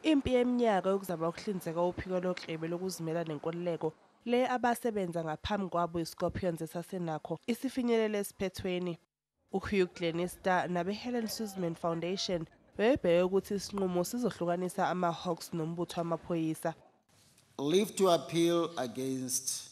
Impi yeminyaka yokuzama ukuhlinzeka uphiko loklebe lokuzimela nenkululeko le abasebenza ngaphambi kwabo iScorpions esasenakho isifinyelele esiphethweni. UHugh Glenister nabeHelen Suzman Foundation bebebheke ukuthi isinqumo sizohlukanisa amaHawks nombutho wamaphoyisa. Leave to appeal against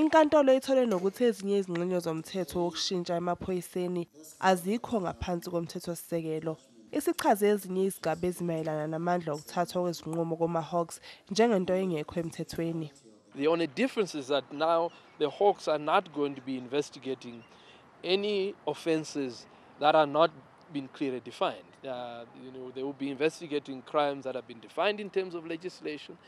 Inkantolo ithole nokuthi ezinye izingxenye zomthetho wokushintsha emaphoyiseni azikho ngaphansi komthethosisekelo. Isichaze ezinye izigaba ezimayelana namandla okuthathwa kwezinqumo komaHawks njengento engekho emthethweni. The only difference is that now the Hawks are not going to be investigating any offences that are not been clearly defined. Uh, you know, they will be investigating crimes that have been defined in terms of legislation.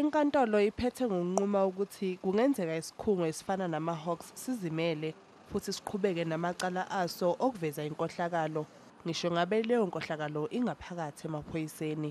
Inkantolo iphethe ngokunquma ukuthi kungenzeka isikhungo esifana namaHawks sizimele futhi siqhubeke namacala aso okuveza inkohlakalo, ngisho ngabe leyo nkohlakalo ingaphakathi emaphoyiseni.